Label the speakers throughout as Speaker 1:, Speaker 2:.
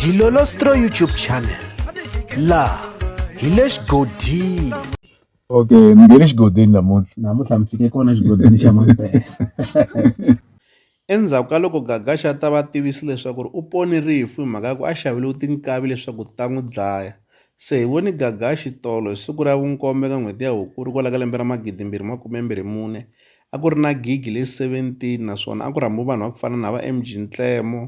Speaker 1: Dilolostro YouTube channel la hi le xigodini okay mi nge
Speaker 2: le xigodini namuntlha namuntlha mi fike kona xigodini xa mampela
Speaker 3: endzhaku ka loko gagaxa a ta va tivisi leswaku u pone rifu hi mhaka ya ku a xaveliwe tinkavi leswaku ta n'wi dlaya se hi voni gagaxi tolo hi siku ra vunkombe ka n'hweti ya hukuri kwala ka lembe ra magidimbirhi makume mbirhi mune a ku ri na gigi leyi seventeen naswona a ku rhambiwe vanhu va ku fana na va M_G Nhlemo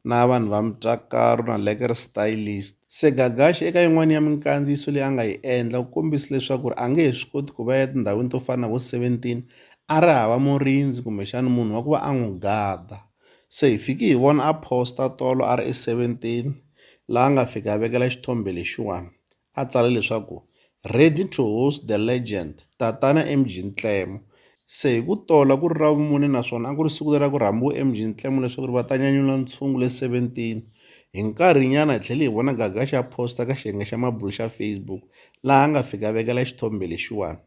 Speaker 3: na vanhu va Mutakari na Lekere Stylist. Se Gagashi eka yin'wani ya minkandziyiso leyi a nga yi endla u kombise leswaku ri a nge he swi koti ku va ya etindhawini to fana na vo seventeen a ri hava murindzi kumbexani munhu wa ku va a n'wi gada, se hi fiki hi vona a post-a tolo a ri eSeventeen laha a nga fika a vekela xithombe lexiwani a tsale leswaku, Ready to host the legend, Tatana MG Ntlemo. Se hi ku tola ku ri Ravumune naswona a ku ri siku leri a ku rhambiwe MG Ntlemo leswaku ri va ta nyanyula ntshungu le 17. Hi nkarhinyana hi tlhele hi vona gaga xa posta ka xiyenge xa mabulu xa Facebook laha a nga fika a vekela xithombe lexiwani.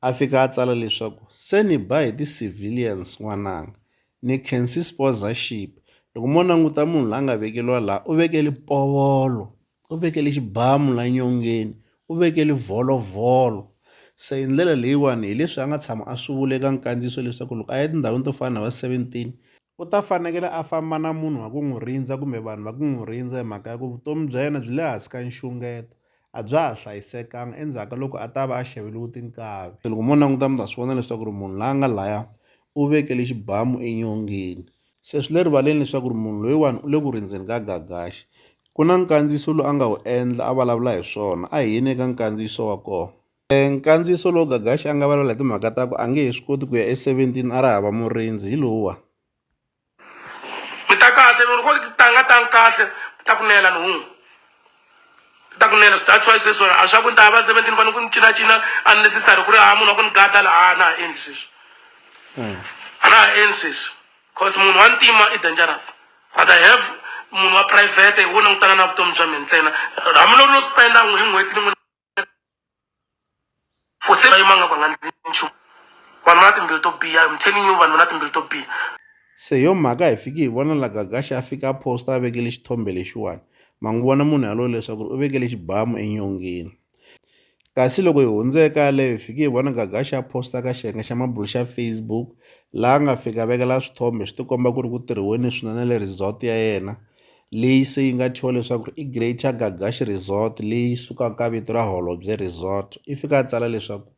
Speaker 3: A fika a tsala leswaku, Se ni ba hi ti-civilians n'wananga. Ni khensi sponsorship. Loko mo languta munhu la a nga vekeriwa laha u veke lipovolo. u vekele xibamu la nyongeni u vekele vholovholo se hi ndlela leyiwani hi leswi a nga tshama a swi vula eka nkandziyiso leswaku loko a ya etindhawini to fana na va 17 u ta fanekele a famba na munhu wa ku n'wi rindza kumbe vanhu va ku n'wi rindza hi mhaka ya ku vutomi bya yena byi le hansi ka nxungeto a bya ha hlayisekanga endzhaku ka loko a ta va a xaveliwe tinkavi se loko mo languta mi ta swi vona leswaku ri munhu la nga laya u vekele xibamu enyongeni Se swi le rivaleni leswaku ri munhu loyiwani u le ku rindzeni ka gagaxi. Ku na nkandziyiso lowu a nga wu endla a vulavula hi swona, a hi yeni eka nkandziyiso wa kona. Nkandziyiso lowu gagaxi a nga vulavula hi timhaka ta ku a nge he swi koti ku ya eseventini a ra hava murindzi hi lowuwani.
Speaker 4: Mi ta kahle, loko ni ku ri tanga tani kahle, ni ta ku nela nhungu. ta kunene so that's why sweswi a swa ku ni ta ya va seventeen fane ku ni cinacina unnecessary ku ri ha munhu wa ku ni gada la a na ha endli sweswi a na ha endli sweswi cause munhu wa ntima i dangerous but i have munhu wa private wo langutana na vutomi bya mina ntsena hambi loko no spenda hi n'hweti ni n'wini for se va yimanga va nga ndzi nchumu vanhu va na timbilu to biha i'm telling you vanhu va na timbilu to biha se yo
Speaker 3: mhaka hi fiki hi vona la gagaxa a fika a posta a vekele xithombe lexiwani ma n'wi vona munhu yalowo leswaku u vekele xibamu enyongeni kasi loko hi hundzeka yaleyo hi fike hi vona gagaxa a posta ka xiyenge xa mabulu xa facebook laha nga fika vekela swithombe swi tikomba ku ri ku tirhiweni swinene le resort ya yena leyi se yi nga thyiwa leswaku i Greater Gagash Resort leyi sukaka ka vito ra Holobye Resort i fika a tsala leswaku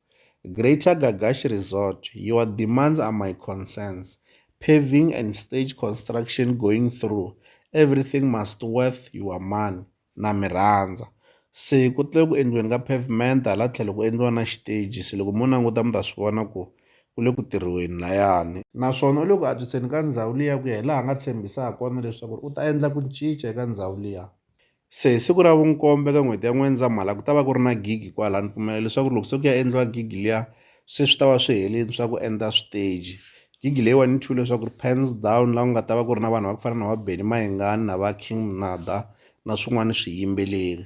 Speaker 3: Greater Gagash Resort your demands are my concerns paving and stage construction going through everything must worth your money na mi rhandza se ku tlhela ku endliweni ka pavement hala tlhelo ku endliwa na xiteji se loko mo languta mi ta swi vona ku. u le ku tirhiweni layani naswona u le ku antswiseni ka ndhawu liya ku ya hi laha a nga tshembisa ha kona leswaku u ta endla ku cinca eka ndhawu liya se hi siku ra vunkombe ka n'hweti ya n'wendzamhala ku ta va ku ri na gigi kwala ni pfumela leswaku loko se ku ya endliwa gigi liya se swi ta va swi heleni swa ku endla switeji gigi leyiwani ni thule leswaku ri pans down laha ku nga ta va ku ri na vanhu va ku fana na va benny mayengani na va king mnada na swin'wana swiyimbeleri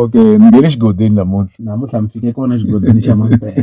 Speaker 2: Okay ni nge le xigodini namuntlha namuntlha ni fike kona xigodini xa Mampela.